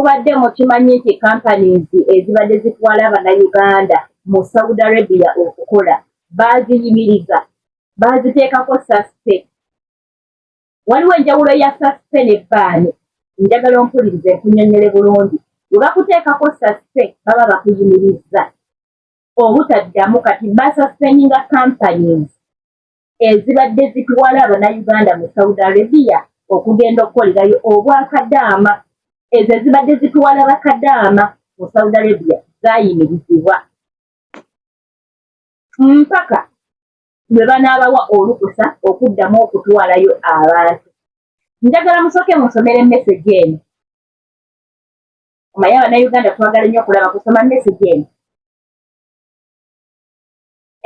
Mubadde mukimanyi nti companies ezibadde zitwala abanayuganda mu Saudi Arabia okukola baaziyimiriza baaziteekako saspe. Waliwo enjawulo ya saspe ne baani njagala ompulirize nkunyonyole bulungi. We bakuteekako saspe baba bakuyimirizza obutaddamu kati basaspeninga companies ezibadde zitwala abanayuganda mu saudi arabia okugenda okukolerayo obwakadaama ezo ezibadde zitwala bakadaama mu saudi arabia zayimirizibwa mpaka lwe banaabawa olukusa okuddamu okutwalayo abantu njagala musooke musomere mesegi eno omaye abanayuganda twagala nnyo okulaba kusoma mesegi eno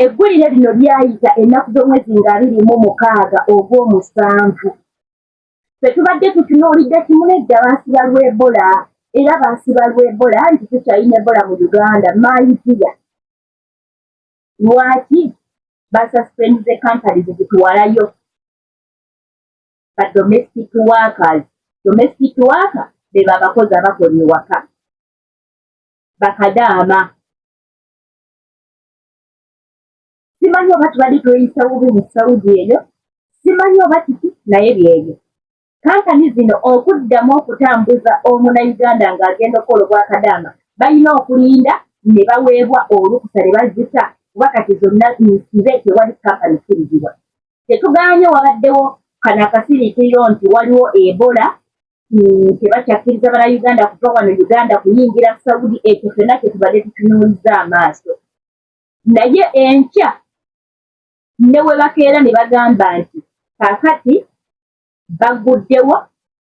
Eggulire lino lyayita ennaku z'omwezi nga abiri mu mukaaga ogw'omusanvu. Ffe tubadde tutunuulidde kimu n'edda baasiba lwa Ebola era baasiba lwa Ebola nti tukyalina Ebola mu Uganda maayiziya. Lwaki basuspendize kampani zezituwalayo ba domestic workers. Domestic worker beba abakozi abakola ewaka bakadaama simanyi oba tubadde tweyisa bubi mu saudi eyo simanyi oba kiki naye byebyo kampani zino okuddamu okutambuza omunauganda ng'agenda okukola obwakadaama balina okulinda ne baweebwa olukusa ne bazita kuba kati zonna nsibe tewali kampani kirizibwa tetugaanye wabaddewo kano akasiriikiriro nti waliwo ebola tebakyakkiriza bana uganda kuva wano uganda kuyingira saudi ekyo fena kyetubadde tutunuuliza amaaso naye enkya ne webakeera ne bagamba nti kakati baguddewo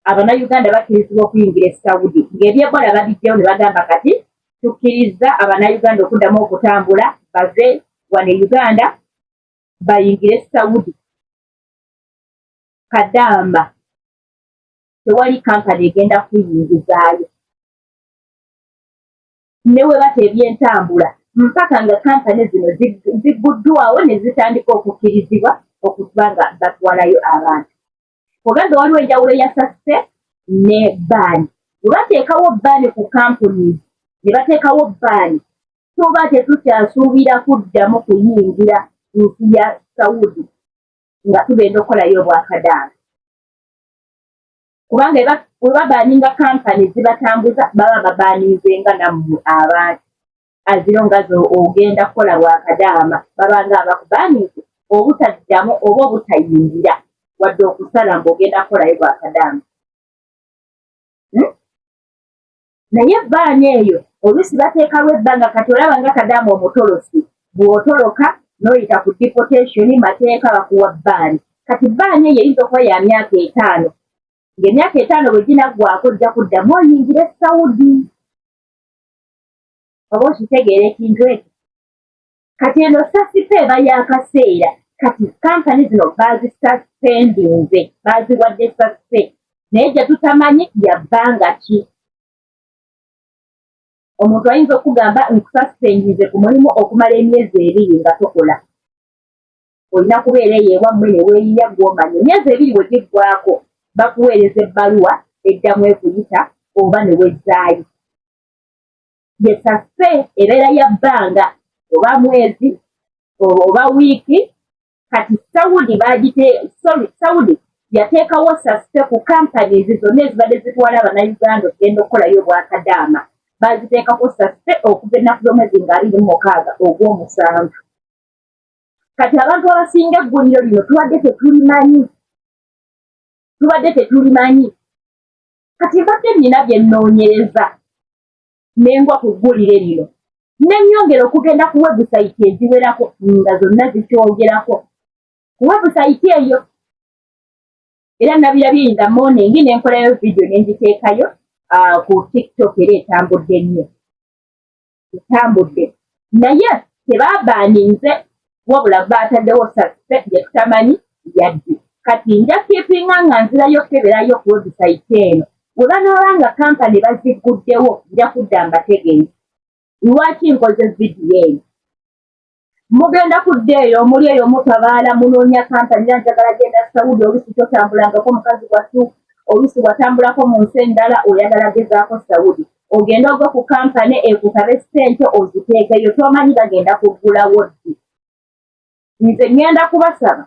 abanayuganda bakkirizibwa okuyingira e saudi ng'ebyebola babijjawo ne bagamba kati tukkiriza abanayuganda okuddamu okutambula bave wano e uganda bayingire e saudi kadamba tewali kampani egenda kuyingizaayo ne we bata ebyentambula mpaka nga kampani zino zigguddwawo ne zitandika okukkirizibwa okuba nga batwalayo abantu oba nga waliwo enjawulo ya sasite ne baani we bateekawo baani ku kampuni ne bateekawo baani tuba tetukyasuubira kuddamu kuyingira nsi ya saudi nga tugenda okukolayo obwakadaala kubanga eba webabaninga kampani zibatambuza baba babaninzenga nammwe abantu aziro nga zo ogenda kukola bwakadaama babanga abakubaninze obutaddamu oba obutayingira wadde okusala mbu ogenda kukolayo bwakadaama hmm? naye ebbaani eyo oluusi bateekawo ebbanga kati olaba nga kadaama omutolosi bw'otoloka n'oyita ku deportation mateeka bakuwa bbaani kati bbaani eyo eyinza okuba ya myaka etaano ng'emyaka etaano bwe ginaggwako ojja kuddamu oyingire saudi oba okitegeera ekintu ekyo kati eno sasipe eba yakaseera kati kampani zino bazisasipendinze baziwadde sasipe naye gye tutamanyi yabbanga ki omuntu ayinza okugamba nkusasipendinze ku mulimu okumala emyezi ebiri nga tokola olina kubeera eyo ewammwe ne weeyiya gw'omanya emyezi ebiri bwe giggwako bakuweereza ebbaluwa eddamu ekuyita oba ne wezzaayo yesase ebeera ya bbanga oba mwezi oba wiiki kati saudi bagite sorry saudi yateekawo sase ku companies zonna ezibadde zitwala abanauganda okugenda okukolayo obwakadaama baziteekako sase okuva ennaku z'omwezi nga abiri mukaaga ogw'omusanvu kati abantu abasinga egguliro lino tubadde tetulimanyi tubadde tetulimanyi kati mbadde nina byenoonyereza nengwa ku ggulire lino ne nnyongera okugenda ku webusayiti eziwerako nga zonna zikyogerako ku webusayiti eyo era nabirabye in the morning ne nkolayo vidiyo ne nziteekayo ah, ku tiktok era etambudde nnyo etambudde naye tebabaaninze wabula baataddewo saspe gye tutamanyi yadde kati nja kipinga nga nzirayo okukeberayo ku webusayiti eno bwe banaaba nga kampani bazigguddewo nja kudda mbategeeza lwaki nkoze vidiyo eno mugenda kudda eyo omuli eyo mutabaala munoonya kampani era njagala genda saudi olusi totambulangako mukazi wattu olusi watambulako mu nsi endala oyagala gezaako saudi ogenda ogwe ku kampani ekukabe sente oziteekeyo tomanyi bagenda kuggulawo ddi nze ŋŋenda kubasaba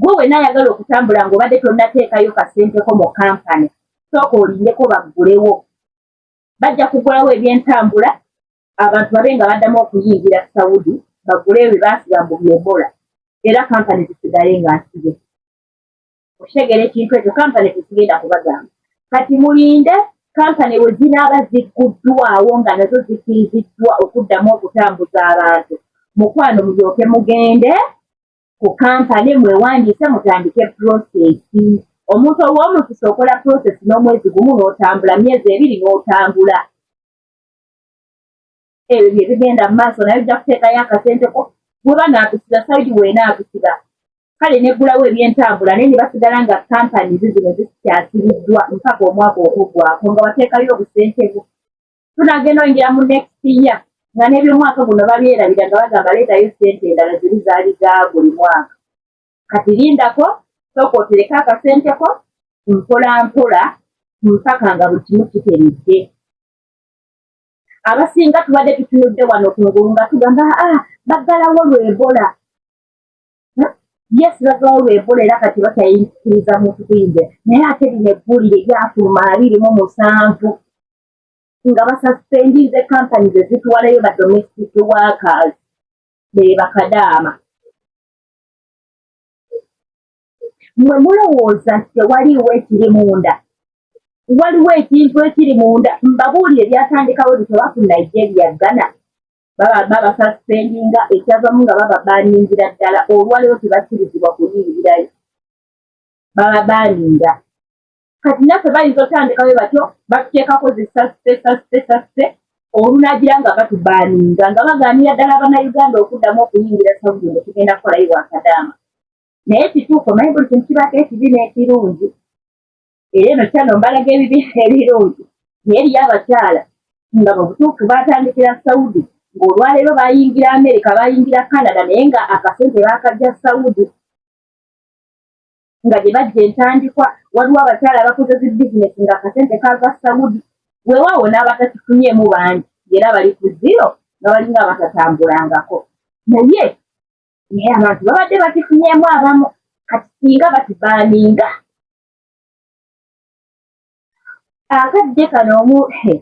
gwe wena ayagala okutambula ngaobadde tonateekayo kasenteko mu kampani sooka olindeko baggulewo bajja kugulawo ebyentambula abantu babe nga baddamu okuyingira saudi bagule ebyo baasiba mbu byebola era kampani zisigale nga nsibe okutegeera ekintu ekyo kampani tesigenda kubagamba kati mulinde kampani we zinaaba zigguddwawo nga nazo zikiriziddwa okuddamu okutambuza abantu mukwano mulyoke mugende ku kampani mwewandiise mutandike purosesi omuntu ow'omukisa okola purosesi n'omwezi gumu n'otambula myezi ebiri n'otambula ebyo bye bigenda mu maaso naye ojja kuteekayo akasente ko weba naatusiba saidi weena atusiba kale neggulawo ebyentambula naye ne basigala nga kampani ze zino zikyasibiddwa mpaka omwaka okuggwako nga wateekayo obusente bwo tunagenda oyingira mu next year nga n'ebyomwaka guno babyerabira nga bagamba leetayo sente endala ziri zaali za buli mwaka kati lindako sooka otereke akasente ko mpola mpola mpaka nga buli kimu kiteredde abasinga tubadde tutunudde wano ku ngulu nga tugamba a ah, baggalawo lwebola hmm? yes baggalawo lwebola era kati bakyayikiriza muntu kuyinja naye ate lino eggulire lyafuluma abiri mu musanvu nga basaspendinze kampani ze zitwalayo ba domestic workers be bakadaama mwe mulowooza nti tewaliiwo ekiri munda waliwo ekintu ekiri munda mbabuulire byatandikawo bitoba ku nigeria ghana babasasipendinga ekyavamu nga bababaningira ddala olwaliwo tebakirizibwa kuyingirayo bababaninga kati naffe bayinza otandikawe batyo batuteekako zisasipesasipesasipe olunagira nga batubaninga nga bagaanira ddala banauganda okuddamu okuyingira saudi nga tugenda kukolayo wakadaama naye kituufu omanyi buli kintu kibako ekibi n'ekirungi era eno kyano mbalaga ebibi ebirungi naye eriyo abakyala nga mubutuufu batandikira saudi ng'olwaleero bayingira amerika bayingira canada naye nga akasente bakajja saudi nga gye bajja entandikwa waliwo abakyala abakoze zi bizinesi nga akasente kava saudi weewaawo n'abatakifunyemu bangi era bali ku ziro nga balinga abatatambulangako naye naye abantu babadde bakifunyeemu abamu kati singa bakibaninga akadde kano omu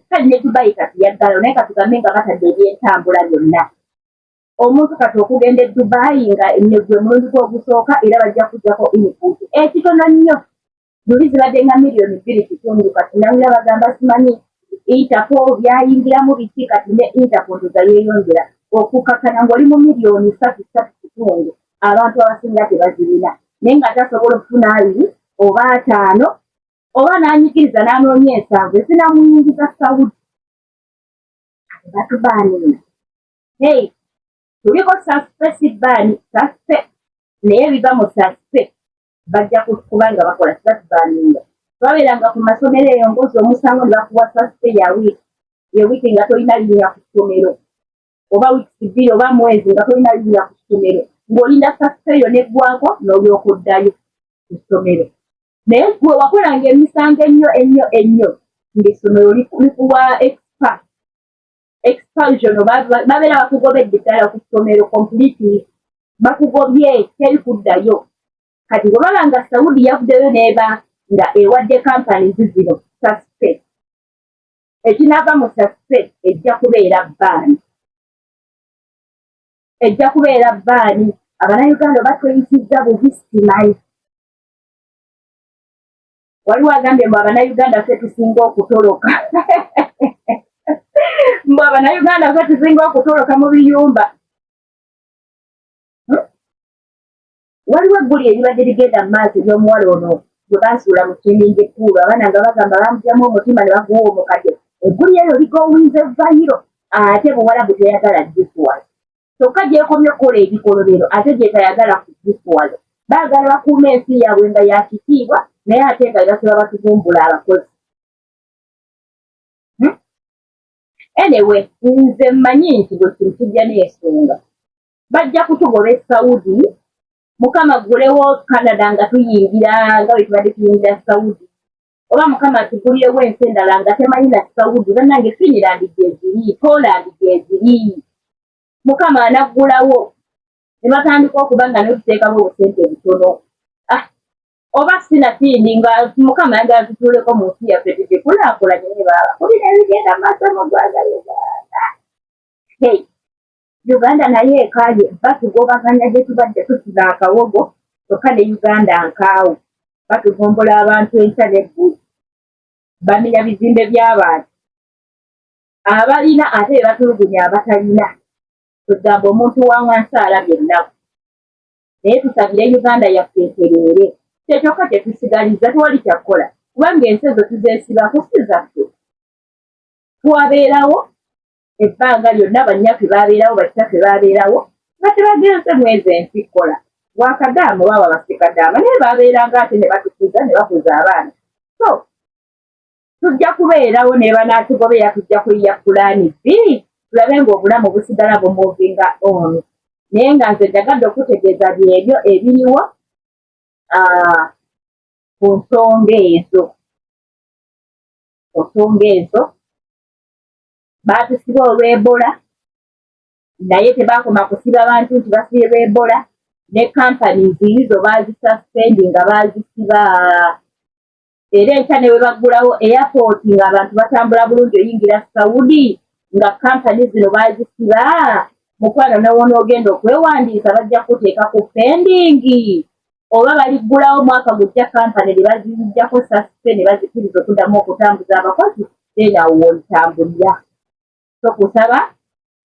kali ne dubayi kati yaggalo naye katugambe nga batadde ebyentambula byonna omuntu kati okugenda e dubayi nga negwe mulundi gwogusooka era bajja kujjako input ekitono nnyo luli zibadde nga miliyoni bbiri kitundu kati nawulira bagamba simanyi intako byayingiramu biki kati ne intako ndoza yeeyongera okukakkana ng'oli mu miliyoni satu satu kitundu abantu abasinga tebazirina naye nga tasobola okufuna abiri oba ataano oba n'anyikiriza n'anoonya ensanvu ezinamuyingiza sawudi batubaanina hey tuliko saspe si baani saspe naye biva mu saspe bajja kuba nga bakola sibatubaninga babeeranga ku masomero eyo ngozi omusango ne bakuwa sasite ya wiiki ye wiiki nga tolina linya ku ssomero oba wiiki bbiri oba mwezi nga tolina linya ku ssomero ng'olinda sasite eyo neggwako n'olyoka oddayo ku ssomero naye gwe wakolanga emisango ennyo ennyo ennyo ng'essomero likuwa expa expulsion babeera bakugobedde ddala ku ssomero completely bakugobye teri kuddayo kati bwebaba nga saudi yavuddeyo neeba nga ewadde kampani zi zino saspe ekinaava mu saspe ejja kubeera baani ejja kubeera baani abanauganda batweyisiza bubi simanyi waliwo agambye mbu abanayuganda ffe tusinga okutoloka mbu abanayuganda ffe tusinga okutoloka mu biyumba hmm? waliwo egguli eribadde ligenda mu maaso ery'omuwala ono gwe baasuula mu kimingi ekkuulu abaana nga bagamba bamugyamu omutima ne baguwa omukadde egguli eryo ligowinze vayiro ate buwala buteyagala jisuwali kyokka gyekomye okukola ebikolobero ate gyetayagala kugifuwalo baagala bakuuma ensi yaabwe nga ya kitiibwa naye ate nga bebasaba batuvumbula abakozi hmm? enewe nze mmanyi nti buli kintu kijja n'ensonga bajja kutugoba esaudi mukama ggulewo canada nga tuyingira nga bwe tubadde tuyingira saudi oba mukama atugulirewo ensi endala nga temanyi natusawudi banange finland gyeziri poland gyeziri mukama anaggulawo ne batandika okuba nga notuteekamu obusente butono ah, oba sinatindi nga mukama yagala tutuuleko mu nsi yaffe tugikulaakulanye ne baaba kulina ebigenda maaso mu ggwanga uganda hey. Uganda nayo ekaaye batugobaganya gye tubadde tusiba akawogo kyokka ne Uganda nkaawo batuvumbola abantu enkya n'eggulu bamenya bizimbe by'abantu abalina ate be batulugunya abatalina kwegamba omuntu wa wansi alabye ennaku naye tusabire Uganda yaffe etereere kye kyokka kye tusigaliza tewali kyakukola kubanga ensi ezo tuzeesibako si zaffe twabeerawo ebbanga lyonna bannyaffe baabeerawo bakitaffe baabeerawo nga tebagenze mwezi ensi kola wakadaama oba babasikadaama naye baabeeranga ate ne batukuza ne bakuza abaana so tujja kubeerawo ne banaatugobeera tujja kuyiya pulaani bbi tulabe ng'obulamu busigala bumuvinga ono naye nga nze njagadde okutegeeza byebyo ebiriwo ah, ku nsonga ezo ku nsonga ezo baatusiba olw'ebola naye tebakoma kusiba bantu nti basibe lw'ebola ne kampani ziizo baazisaspendi nga baazisiba era enkya ne bwe baggulawo eyapooti ng'abantu batambula bulungi oyingira saudi nga kampani zino baazisiba mukwano newoona ogenda okwewandiisa bajja kuteeka ku pendingi oba baliggulawo mwaka gujja kampani ne bazijjako sasite ne bazikiriza okuddamu okutambuza abakozi then awo wolitambulira so kusaba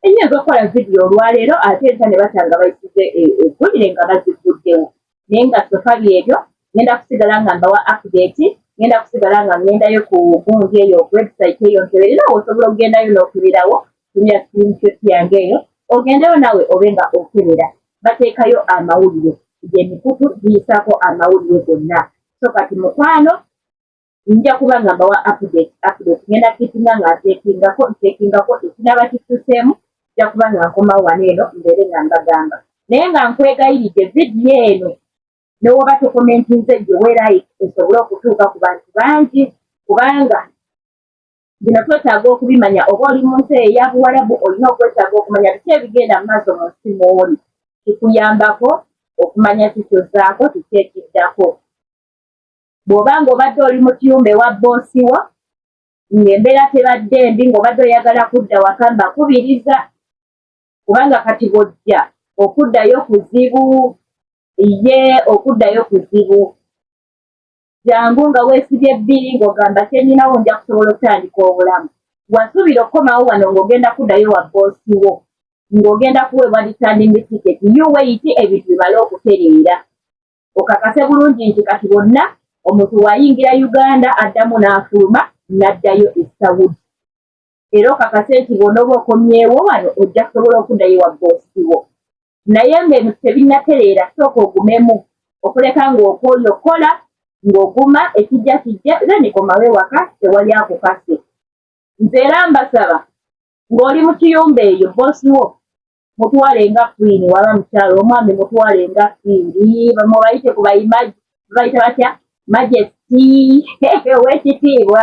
ennyo ezokukola vidiyo olwaleero ate enta ne batanga bayisize eggulire e, nga bazigguddewo naye nga sofa byebyo ngenda kusigala nga mbawa update ngenda kusigala nga ngendayo ku gundi eyo website eyo nkeberera osobola okugendayo n'okubirawo tumya screenshot yange eyo ogendeyo nawe obe nga okebera bateekayo amawulire gemikutu giyisaako amawulire gonna so kati mukwano nja kuba nga mbawa update update ngenda kitinga nga ntekingako ntekingako ekinaba kituseemu nja kuba nga nkomawo wano eno mbeere nga mbagamba naye nga nkwegayiridde vidiyo eno newoba tokomentinze gye weerayike esobole okutuuka ku bantu bangi kubanga Bino twetaaga okubimanya oba oli mu nsi eya Buwarabu olina okwetaaga okumanya biki ebigenda mu maaso mu nsi mw'oli. Kikuyambako okumanya ki ky'ozzaako kiki ekiddako. Bw'oba ng'obadde oli mu kiyumba ewa bboosi wo ng'embeera tebadde mbi ng'obadde oyagala kudda waka mbakubiriza kubanga kati bw'ojja okuddayo kuzibu ye okuddayo kuzibu. jangu nga weesibye bbiri ng'ogamba kyenyinawo nja kusobola okutandika obulamu wasuubira okukomawo wano ng'ogenda kuddayo wa boosi wo ng'ogenda kuweebwa returning ticket you wait ebintu bimale okutereera okakase bulungi nti kati bonna omuntu wayingira uganda addamu n'afuluma n'addayo e saudi era okakase nti bw'onooba okomyewo wano ojja kusobola okuddayo wa boosi wo naye nga ebintu tebinnatereera sooka ogumemu okuleka ng'okwoyo kola ng'oguma ekijja kijja then komawo ewaka tewali akukase nze era mbasaba ng'oli mu kiyumba eyo boosi wo mutwale nga kwiini waba mukyalo omwami mutwale nga kwiini bamubayite ku bayimaji babayita batya majesti owekitiibwa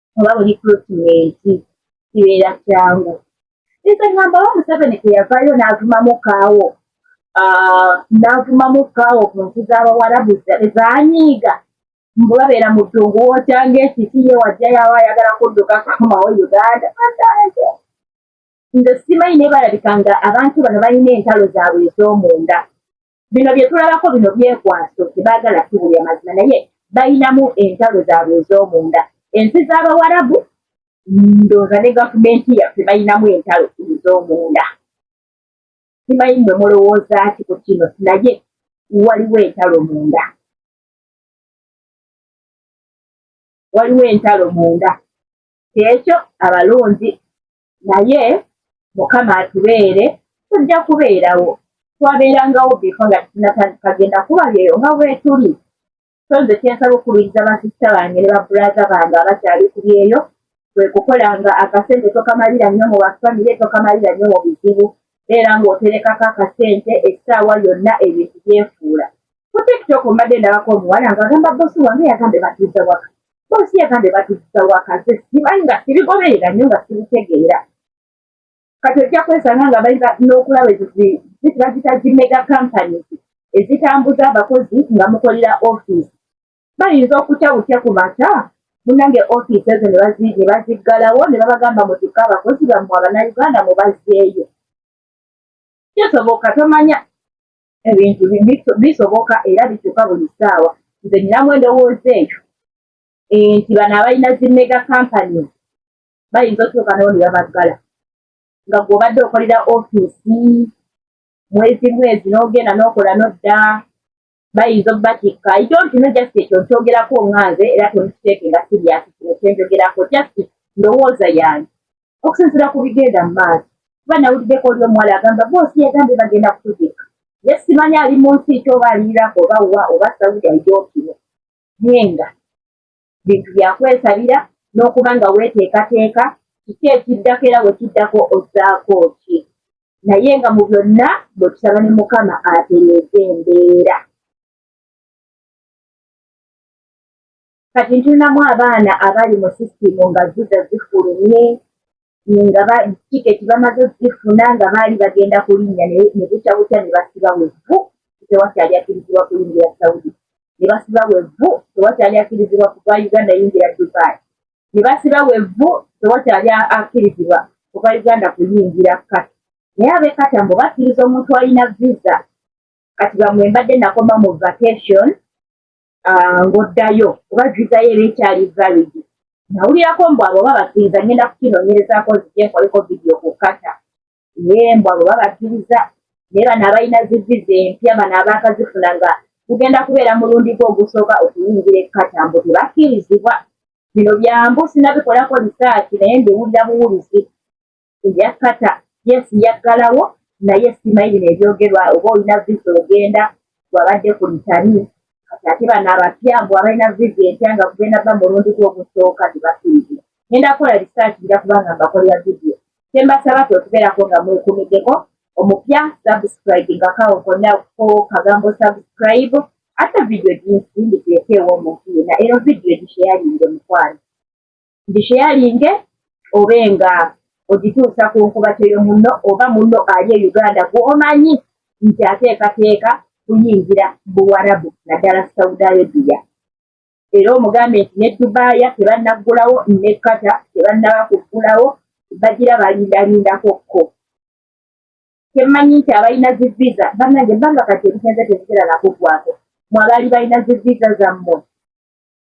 oba buli kulutimenti kibeera kyangu nze ngamba wa museveni teyavayo n'avumamu kaawo ah, n'avumamu kaawo ku nsi z'abawarabu zanyiiga mbu babeera mu ddungu wokyanga ekiti ye wajja yaba ayagala kudduka kumawo uganda nze simanyi naye balabika nga abantu bano balina entalo zaabwe ez'omunda bino bye tulabako bino byekwaso tebaagala tubulya mazima naye balinamu entalo zaabwe ez'omunda ensi z'abawarabu ndooza ne gavumenti yaffe balinamu entalo ez'omunda simanyi mwe mulowooza ki ku kino naye waliwo entalo munda waliwo entalo munda kyekyo abalonzi naye mukama atubeere tujja kubeerawo twabeerangawo biko nga tinatandikagenda kuba byeyo nga bwetuli so nze kyensaba okubiriza basista bange ne baburaza bange abakyali ku byeyo kwe kukola nga akasente tokamalira nnyo mu bafamire tokamalira nnyo mu bizibu beera ng'oterekako akasente essaawa yonna ebintu byefuula ku tiktok mbadde ndabako omuwala ngaagamba bosi wange yagambe batuuza waka boosi yagambye batuzza wakaze simanyi nga sibigoberera nnyo nga sibitegeera kati ojja kwesanga nga bayinza n'okulaba ezo zitibazita zi mega companies ezitambuza abakozi nga mukolera ofiisi bayinza okutya butya ku mata munange ofiisi ezo ne baziggalawo ne babagamba mutikka abakozi bammwe abanauganda mubazzeeyo kyosoboka tomanya ebintu bisoboka era bikyuka buli ssaawa nze ninamu endowooza eyo eh, nti bano abalina zi mega kampany bayinza otuuka nawo nebabaggala nga gwobadde okolera ofiisi mwezi mwezi n'ogenda n'okola nodda bayinza obubatikka idontino just ekyo nkyogerako nga nze era tonkiteeke nga siriasi kino kyenjogerako just ndowooza yange okusinzira ku bigenda mu maaso kuba nawuliddeko oli omuwala agamba boosi yagambye bagenda kutuzika ye simanyi ali mu nsi ki oba ali iraq oba wa oba saudi aidokino naye nga bintu byakwesabira n'okuba nga weeteekateeka kiki ekiddako era wekiddako ozzaako ki naye nga mu byonna bwetusaba ne mukama atereeze embeera kati ntunamu abaana abali mu sisitimu nga viza zifulumye nga tiketi bamaze zifuna nga baali bagenda kulinnya ne bukya bukya ne basiba wevvu tewakyali akkirizibwa kuyingira saudi ne basiba wevvu tewakyali akkirizibwa kuva uganda yingira dubai ne basiba wevvu tewakyali akkirizibwa kuva uganda kuyingira kati naye abekata mbu bakkiriza omuntu alina viza kati bamwe mbadde nakoma mu vacation ah, ng'oddayo oba viza yo eba ekyali valid nawulirako mbu abo babakiriza ngenda kukinonyerezako nzije nkoleko vidiyo ku kata ye mbu abo babakiriza naye bano abalina ziviza empya bano abaakazifuna nga kugenda kubeera mulundi gwe ogusooka okuyingira ekkata mbu tebakkirizibwa bino byambu sinabikolako lisaaki naye ndiwulira buwulizi eyakata yes yaggalawo naye simanyi bino ebyogerwa oba olina visa ogenda wabadde ku litani kati ate bano abapya mbu abalina visa empya nga kugenda ba mulundi gwe ogusooka tebakiriza ngenda kukola research nja kubanga mbakolera vidiyo kyembasaba kwe okubeerako nga mwekumiddeko omupya subscribe nga kawo konna ko kagambo subscribe ate vidiyo ginsi ndikulekeewo omuntu yena ero vidiyo gisheyalinge mukwano ngisheyalinge obe nga ogituusa ku nkubateyo munno oba munno ali e uganda gwomanyi nti ateekateeka kuyingira buwarabu naddala saudi arabia era omugambye nti ne dubaaya tebannaggulawo ne kata tebannaba kuggulawo bagira balindalindako kko kyemanyi nti abalina zi visa banange banga kati ebigenze tebigera nakuggwako mwabaali balina zi visa zammwe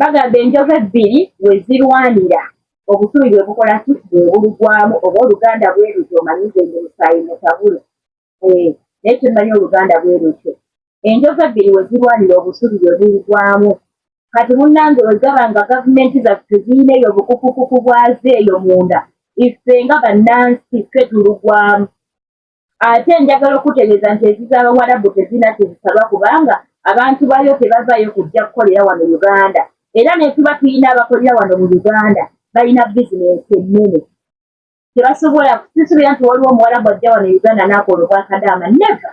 Bagamba enjovu ebbiri we zirwanira obusubi bwe bukola ki bwe bulugwamu oba oluganda bwe lutyo omanyi nze ndi musaayi mutabule eh, naye kyemmanyi oluganda bwe lutyo enjovu ebbiri we zirwanira obusubi bwe bulugwamu kati munnange we gaba nga gavumenti zaffe zirina eyo obukukukuku bwazo eyo munda ife nga bannansi ffe tulugwamu Ate njagala okukutegeeza nti ezizo Abawarabu tezirina kye zisaba kubanga abantu baayo tebavaayo kujja kukolera wano Uganda era ne tuba tulina abakolera wano mu Uganda balina bizinensi ennene kye basobola. Sisuubira nti waliwo Omuwarabu ajja wano Uganda n'akola Obwakadaama, never.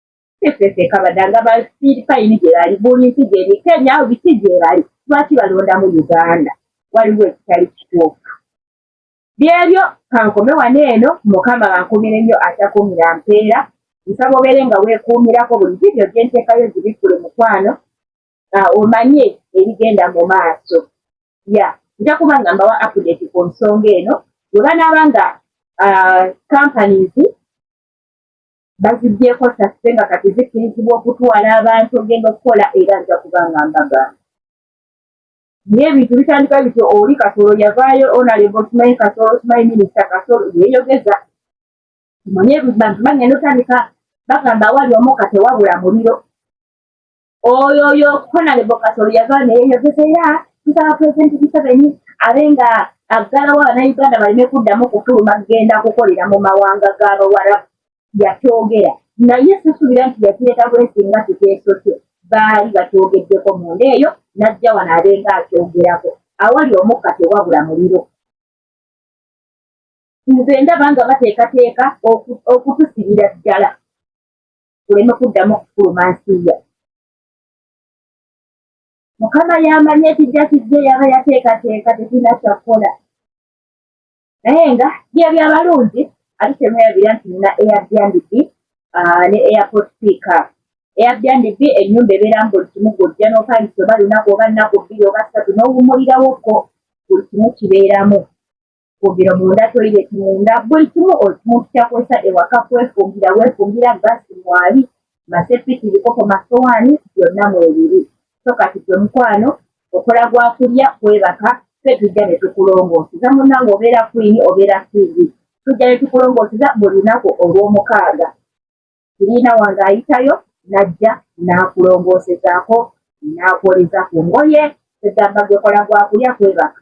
Efefe kabada nga ba speed fine gyebali buli nsi gyeri Kenya awo biki gyebali lwaki balonda mu Uganda waliwo ekitali kituufu byebyo kankome wano eno mukama bankumire nnyo atakumira mpeera nsaba obeere nga weekuumirako buli vidiyo gye nteekayo zibikkule mukwano ah, omanye ebigenda mu maaso ya nja kuba nga mbawa apudeti ku nsonga eno bwe banaaba nga ah, companies bazigyeko sase nga kati zikkirizibwa okutwala abantu ogenda okukola era nja kuba nga mbaga naye ebintu bitandika bityo oli kasolo yavaayo onalebo simanyi kasolo simanyi minisita kasolo yeyogeza kimanye bantu bagenda otandika bagamba awali omuka tewabula muliro oyo oyo konale bokasa oluyava neyeyogeza era tusaba pulezidenti museveni abe nga aggalawo abanauganda baleme kuddamu kufuluma kugenda kukolera mu mawanga ga bawarabu yakyogera naye sisuubira nti yakireeta bwesi nga kiteeso kye baali bakyogeddeko munda eyo n'ajja wano abenga akyogerako awali omukka tewabula muliro nze ndaba nga bateekateeka okutusibira ddala tuleme kuddamu okufuluma nsiiya mukama yamanya ekijja kijja yaba yateekateeka tetulina kyakukola naye nga bye byabalungi ate temwerabira nti nina airbnb ah, ne airport piika airbnb ennyumba ebeera nga buli kimu gwojja n'opangisa oba lunaku oba nnaku bbiri oba ssatu n'owumulirawo ko buli kimu kibeeramu kwogera munda toilet munda buli kimu omuntu kyakozesa ewaka kwefumbira wefumbira gasi mwali masepiki bikopo masowaani byonna mwebiri so kati gwe mukwano okola gwakulya kwebaka fe tujja ne tukulongooseza munange obeera kwini obeera fiizi tujja ne tukulongooseza buli lunaku olw'omukaaga kiriina wange ayitayo n'ajja n'akulongoosezaako n'akwoleza ku ngoye egamba gwekola gwakulya kwebaka